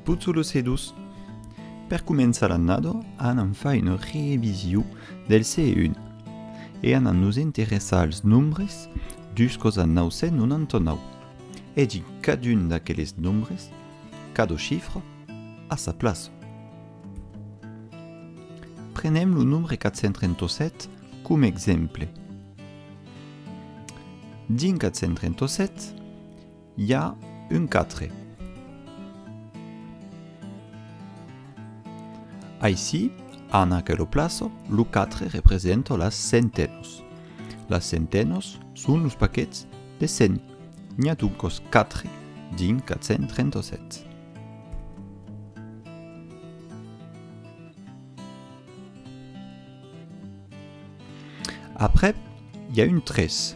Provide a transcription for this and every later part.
Puzzulos e dus. Per començar l'annada anam far una revision del CE1 e anam nos interessar als nombres juscos a 999 e dins cadun d'aqueles nombres cada chifra a sa plaça. Prenem lo nombre 437 com exemple. Dins 437 I a un quatre. Aicí, en aquelo plaço, lo quatre representa las centenhos. Las centenhos son los paquets de cent. N'i a doncos quatre dins 437. Aprèp, i a un tres.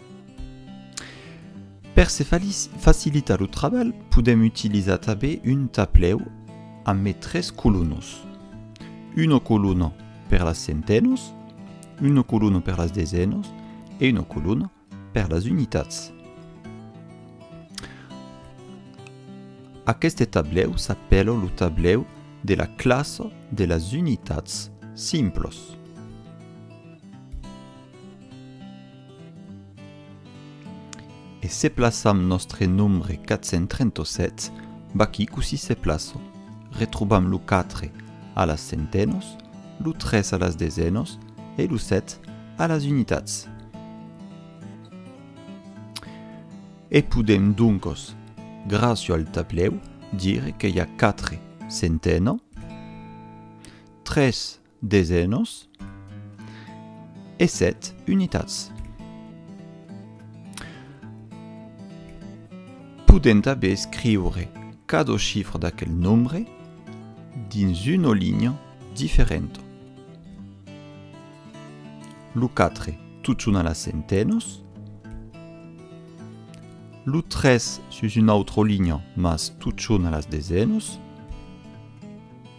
Per se facilitar lo trabalh, podèm utilizar tanben un tablèu amb mai tres colunas. Una coluna per las centenas, una coluna per las desenas e una coluna per las unitats. Aqueste tablèu s'apèla lo tablèu de la classa de las unitats simplas. E se plaçam nòstre nombre 437, vaquí cossí se plaço, retrobam lo 4 a las centenos, lo 3 a las desenos e lo 7 a las unitats. E podem doncos, gràcio al tablèu, dire que i a 4 centeno, 3 Desenos e sèt unitats. Podent aver escriure cada chifra d'aquel nombre dins una linha diferenta. Lo quatre tot son a las centenos. Lo tres sus una autra linha mas tot son a las desenos.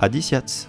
Adisiatz!